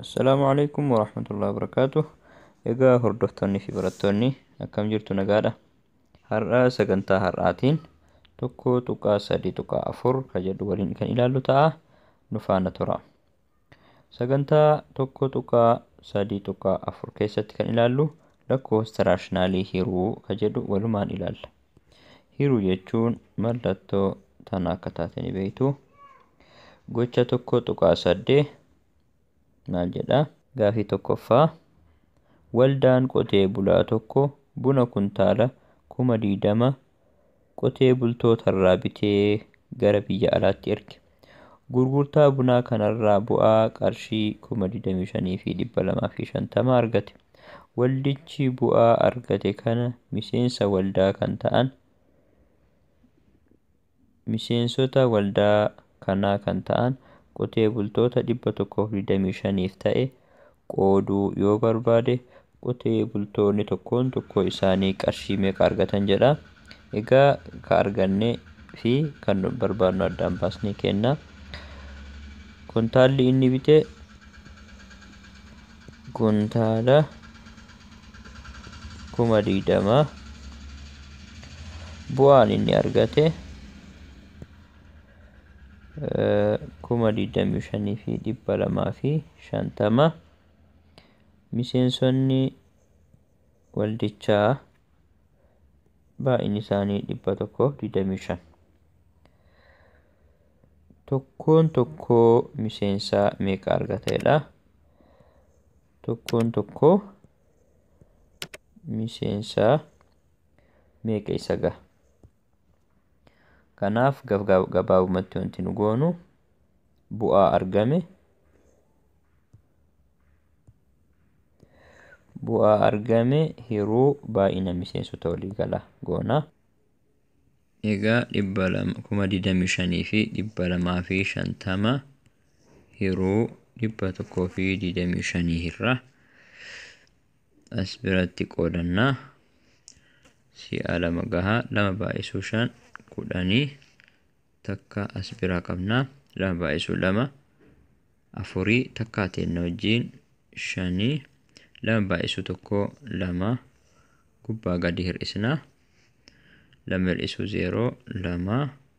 Assalaamu alaikum warahmatullahi wabarakaatu. Egaa hordoftoonni fi barattoonni akkam jirtu nagaadha. Har'a sagantaa har'aatiin tokko tuqaa sadii tuqaa afur kan jedhu waliin kan ilaallu ta'a. Nu faana tura. Sagantaa 1.3.4 keessatti kan ilaallu lakkoofsa raashinaalii hiruu ka jedhu walumaan ilaalla. Hiruu jechuun mallattoo tana akka taate ni beektu. Gocha 1.8 maal jedha? Gaafii tokkoffaa waldaan qotee bulaa tokko buna kuntaala kuma 20 qotee bultootarraa bitee gara biyya alaatti erge. Gurgurtaa bunaa kanarraa bu'aa qarshii 25,250 argate. Waldichi bu'aa argate kana miseensa waldaa kan ta'an miseensota waldaa kanaa kan ta'an qotee bultoota 125f ta'e qooduu yoo barbaade qotee bultoonni tokkoon tokkoo isaanii qarshii meeqa argatan jedha. Egaa ka arganne fi kan barbaadnu addaan baasnee kenna. Kuntaalli inni bite kuntaala kuma digdama. Bu'aan inni argate 25,250 Miseensonni waldichaa baay'inni isaanii 125. Tokkoon tokkoo miseensaa meeqa argata jedha. Tokkoon tokkoo miseensaa meeqa isa gaha? Kanaaf gabaabumatti wanti nu goonu bu'aa argame bu'aa argame hiruu baay'ina miseensota waliigala goona. Egaa dhibba lama kuma digdamii shanii fi dhibba lamaa fi shantama hiruu dhibba tokkoo fi digdamii shanii irraa as biratti qoodanna si'a lama gaha lama baay'isuu shan kudhanii takka as biraa qabna lama baay'isuu lama afurii takkaa teenna wajjiin shanii lama baay'isuu tokko lama gubbaa gadi hir'isna lama hir'isuu zeeroo lama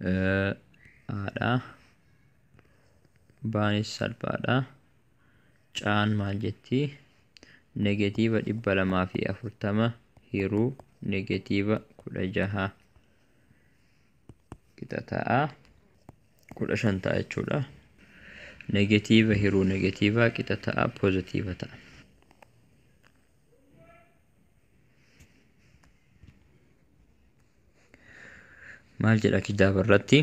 haadha baanis salphaadha caan maal jetti negatiiva dhibba lamaa fi afurtama hiruu negatiiva kudha jaha qixa ta'a kudha shan ta'a jechuudha negatiiva hiruu negatiiva qixa ta'a pozitiiva ta'a maal jedha kitaaba irratti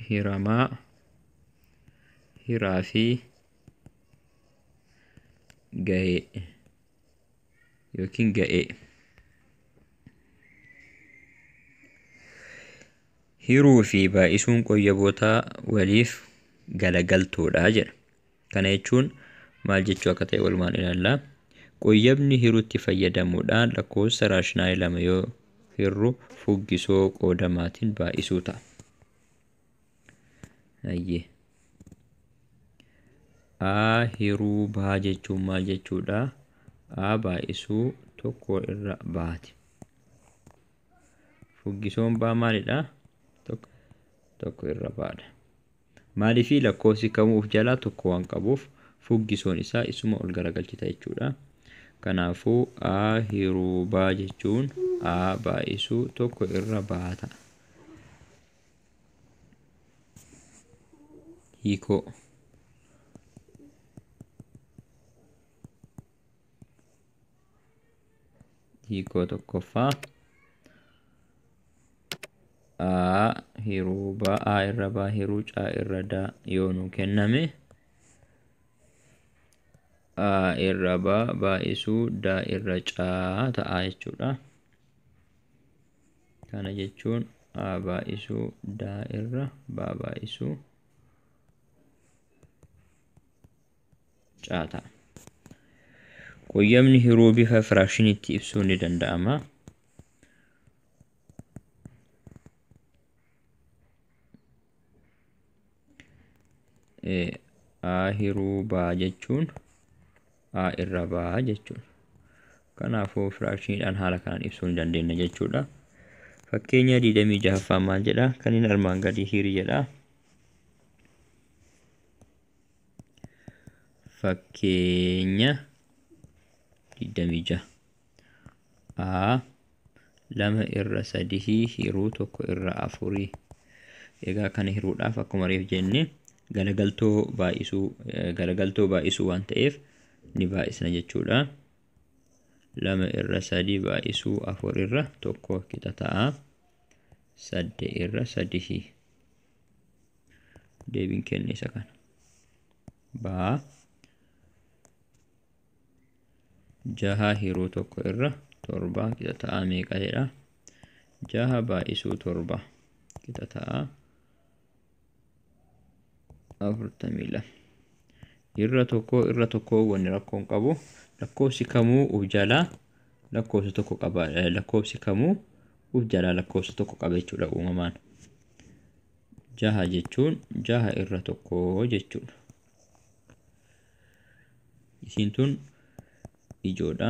hiramaa hiraa fi gahee yookiin ga'ee. Hiruu fi baay'isuun qoyyabootaa waliif galagaltoodha jedha. Kana jechuun maal jechuu akka ta'e walumaan ilaalla. Qoyyabni hiruutti fayyadamuudhaan lakkoofsa raashinaayii lama yoo hirru fuggisoo qoodamaatiin baay'isuu ta'a. Hayyee. a hiruu baa jechuun maal jechuudha a baay'isuu tokko irra baati fuggisoon baa maalidha tokko tokko irra baadha maaliifii lakkoofsi kamuu of jalaa tokko waan qabuuf fuggisoon isaa isuma ol garagalchita jechuudha kanaafuu a hiruu baa jechuun a baay'isuu tokko irra baata hiikoo hiikoo tokkoffaa a hiruu ba a irra ba hiruu ca irra da yoo nu kenname a irra ba baay'isuu da irra ca ta'a jechuudha. kana jechuun a baay'isuu daa irra baa baay'isuu caa ta'a. Qoyyamni hiruu bifa firaakshiniitti ibsuun ni danda'ama. A hiruu baa jechuun a irra ba jechuudha. Kanaafuu firaakshiniidhaan haala kanaan ibsuu ni dandeenya jechuudha. Fakkeenya 26ffaa maal jedha? Kan inni armaan gadii hiri jedha. Fakkeenya 26. a lama irra sadihii hiruu tokko irra afurii egaa kana hiruudhaaf akkuma reef jenne galagaltoo baay'isuu eh, galagaltoo baay'isuu waan ta'eef ni baay'isna jechuudha lama irra sadii baay'isuu afur irra tokko qixa ta'a sadde irra sadihii deebiin kenne isa kana baa jaha hiruu tokko irra torba qixa ta'aa meeqa jedha jaha baay'isuu torba qixa ta'aa afurtamii lama irra tokko irra tokko wanni rakkoon qabu lakkoofsi kamuu uf jalaa lakkoofsa tokko qaba lakkoofsi kamuu uf jalaa lakkoofsa tokko qaba jechuudha uumamaan jaha jechuun jaha irra tokko jechuudha isiin tun ijoodha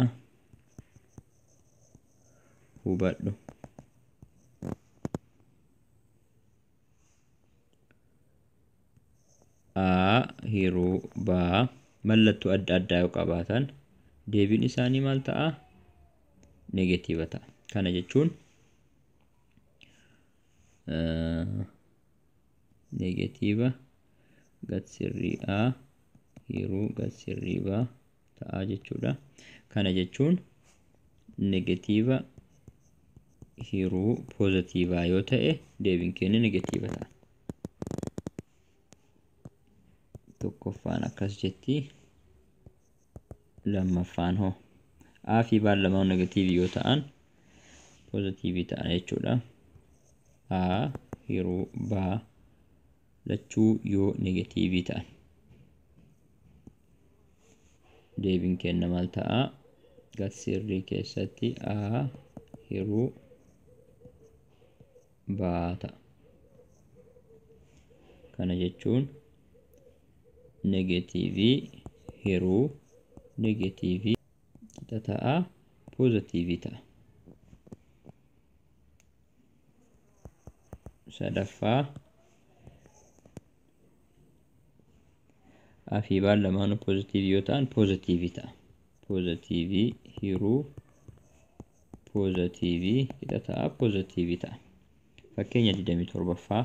hubadhu a hiruu baa mallattuu adda addaa yoo qabaatan deebiin isaanii maal ta'a negatiiva ta'a kana jechuun negatiiva gad sirriidha hiruu gad sirriiva ta'a jechuudha kana jechuun negatiiva hiruu poozatiivaa yoo ta'e deebiin keenya negatiiva ta'a tokkoffaan akkas jetti lammaffaan hoo a fi baan lamaan negatiivii yoo ta'an poozitiivii ta'an jechuudha a yeroo baa lachuu yoo negatiivii ta'an deebiin kenna maal ta'a gatsirrii keessatti a yeroo baa ta'a kana jechuun negatiivii hiruu negatiivii qixa ta'a poozatiivii ta'a. sadaffaa afii baan lamaanuu poozatiivii yoo ta'an poozatiivii ta'a. poozatiivii hiruu poozatiivii qixa ta'a poozatiivii ta'a. Fakkeenya 27ffaa.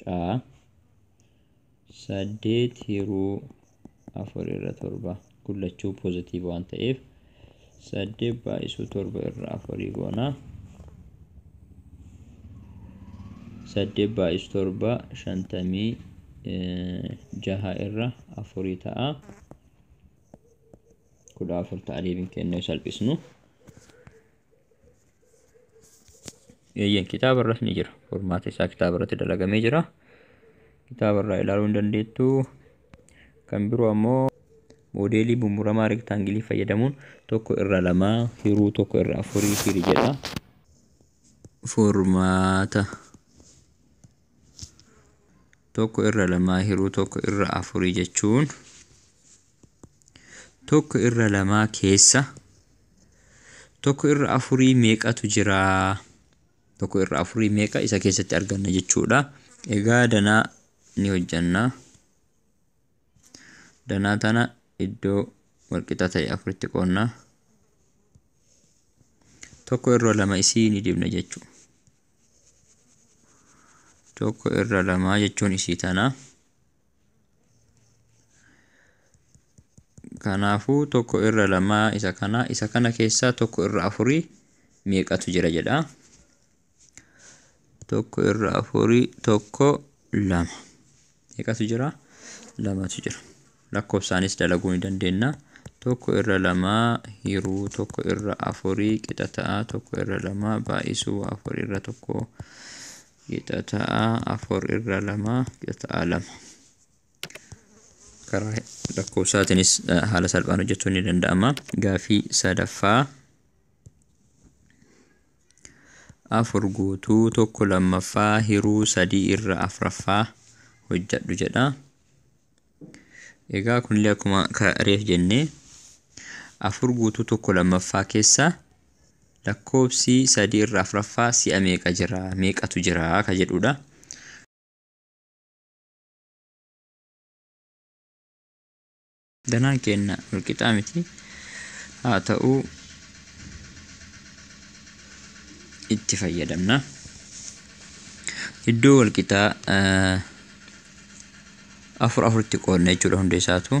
caa saddeet hiruu afur irra torba gullachuu pozitiiv waan ta'eef saddeet baay'isuu torba irra afurii goona saddeet baay'isuu torba shantamii jaha irra afurii ta'a kudha afur ta'a deebiin keenya salphisnu Eeyyeen kitaaba irras ni jira. Furmaata isaa kitaaba irratti dalagamee jira. Kitaaba irraa ilaaluu hin dandeettu. Kan biroo ammoo moodeelii bummuramaa rektaangilii fayyadamuun tokko irra lamaa hiruu tokko irra afurii hiri jedha. Furmaata. tokko irra lamaa hiruu tokko irra afurii jechuun tokko irra lamaa keessa tokko irra afurii meeqatu jira tokko irra afurii meeqa isa keessatti arganna jechuudha egaa danaa ni hojjanna danaa tana iddoo walqixa ta'e afuritti qoonna tokko irra lama isii ni dibna jechuudha tokko irra lamaa jechuun isii tana. Kanaafuu tokko irra lamaa isa kana isa kana keessaa tokko irra afurii meeqatu jira jedha. Tokko irra afurii tokko lama. meeqatu jira? Lamatu jira. Lakkoofsaanis dalaguu ni dandeenya. Tokko irra lamaa hiruu tokko irra afurii qixa ta'a. Tokko irra lamaa baay'isuu afur irra tokko qixa ta'a. Afur irra lama qixa ta'a lama. Karaa lakkoofsaatiinis eh, haala salphaan hojjechuun ni danda'ama. Gaafii sadaffaa 4 guutuu 1 lammaffaa hiruu 3 irra afraffaa hojjadhu jedha. Egaa kunillee akkuma reef jennee afur guutuu tokko lammaffaa keessa lakkoobsi sadii irra afraffaa si'a meeqa jira meeqatu jira ka jedhudha. Danaan keenya walqixaa miti. Haa ta'u itti fayyadamna. Iddoo walqixaa afur afuritti qoodna jechuudha hunda isaatu.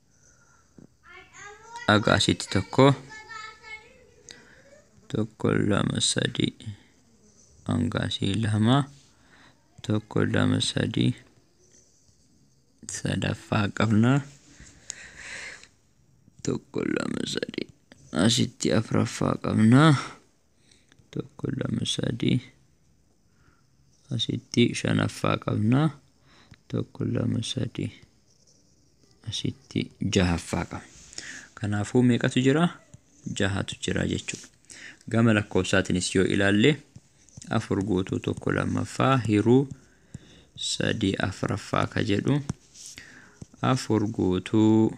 Aga asitti tokko tokko lama sadii hanga asii lama tokko lama sadii sadaffaa qabna tokko lama sadii asitti afraffaa qabna tokko lama sadii asitti shanaffaa qabna tokko lama sadii asitti jahaffaa qabna kanaafuu meeqatu jira jahatu jira jechuudha gama lakkoofsaatinis yoo ilaalle afur guutuu tokko lammaffaa hiruu sadii afraffaa ka jedhu afur guutuu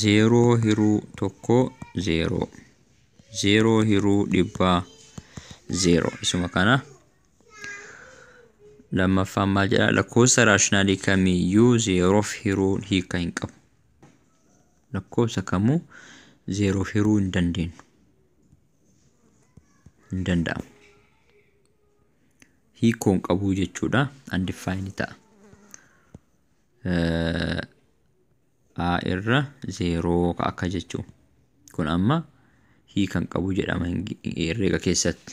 Zeeroo hiruu tokko zeeroo. Zeeroo hiruu dhibbaa zeeroo. Isuma kana. Lammaffaan maal jedha? Lakkoofsa raashinaalii kamiyyuu zeeroof hiruun hiika hin qabu. Lakkoofsa kamuu zeeroof hiruu hin dandeenyu. Hin danda'amu. Hiikoo hin qabu jechuudha. Undefined ta'a. a irra zeeroo ka akka jechuu kun amma hii kan qabu jedhama herreega keessatti